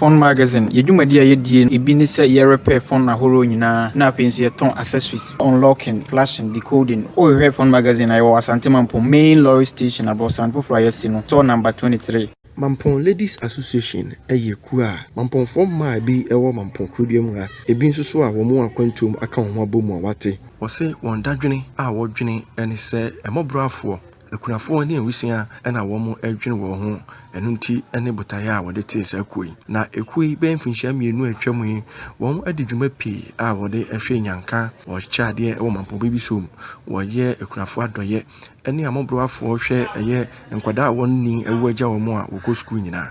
Phone Magazine, Yɛn dwumadi a yɛdie no bi ne sɛ yɛ repair phone ahorow nyinaa na afei nso yɛtɔn accessories, unlocking, flashing, decoding. Wo hwehwɛ Phone Magazine a yɛwɔ Asante Mampong main lorry station aborosan foforɔ a yɛasi no store number 23. Mampong Ladies Association yɛ kuo a Mampongfoɔ mmaa a bi wɔ Mampong Kurodua mu a ɛbi nso so a wɔn akwantuo mu aka wɔn ho abɔ mu a wɔate. Wɔse wɔn dadwene a wɔdwene ne sɛ mmɔborɔafoɔ Akunafoɔ ne awusia na wɔdwene wɔn ho, ɛno nti ne botaeɛ a wɔde tee saa kuo yi. Na ekuo yi bɛyɛ mfinhyia mmienu a atwam yi, wɔadi dwuma pii a wɔde hwɛ nnyanka, wɔkyɛ adeɛ wɔ mampɔbɔ bi so, wɔyɛ akunafoɔ adɔeɛ, ɛne amɔbrowafoɔ hwɛ, ɛyɛ nkwadaa a wɔn nni awu agya wɔn a wɔkɔ sukuu nyinaa.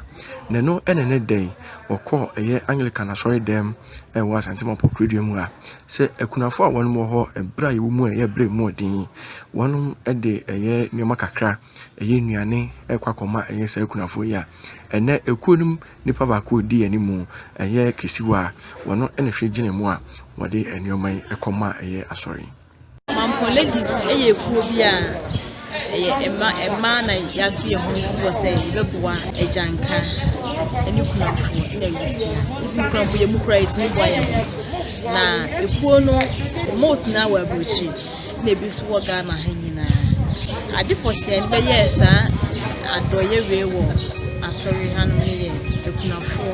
Na ɛno na ɛnnɛ da yi wɔkɔ ɛyɛ Anglican asɔredɛm ɛwɔ Asante Mapɔkurodua mu ha. Sɛ akunafo a wɔnom wɔ hɔ bere a yɛwɔ mu a ɛyɛ bere mu ɔden yi, wɔnom de ɛyɛ nneɛma kakra, ɛyɛ nnuane ɛkɔ akɔma ɛyɛ saa akunafo yi a, ɛnɛ ɛkuo nom nipa baako a ɔdi anim ɛyɛ kɛsiwa a, wɔno ɛna hwɛ gyina mu a wɔde nneɛma yi ɛkɔma ɛyɛ asɔre. Mampɔn ladies yɛ kuo bi a ɛyɛ mma mmaa na yɛato yɛn ho si wɔ sɛ yɛbɛboa agyanka ne kunafo na awusia even kunafo yɛ mu kura yɛtumi boa yɛn ho na ekuo no most na wɔ aburokyiri na ebi nso wɔ ghana ha nyinaa ade pɔsɛɛ no bɛyɛɛ saa adɔyɛ wei wɔ asɔre ha no yɛ akunafoɔ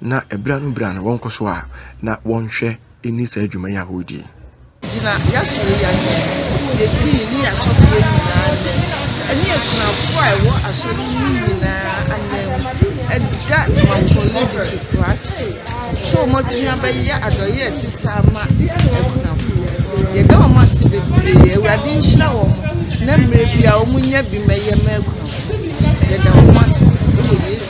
Na bere ano bere ano wɔnkɔ so a na wɔnhwɛ nni saa dwuma yi a wɔredi yi. Gyina y'asɔre yi anim, yedii ne asɔfoɔ nyinaa nnɛ, ɛne akunafoɔ a ɛwɔ asɔre yi mu nyinaa anam, ɛda Mampong Leadership ase sɛ wɔatumi abɛyɛ adɔyɛ a ɛte saa ma akunafoɔ. Yɛda wɔn ase bebree, Awurade nhyira wɔn na mmerɛ biara wɔnyɛ bi mmɛyɛ ma akunafoɔ. Yɛda wɔn ase wɔ Yesu.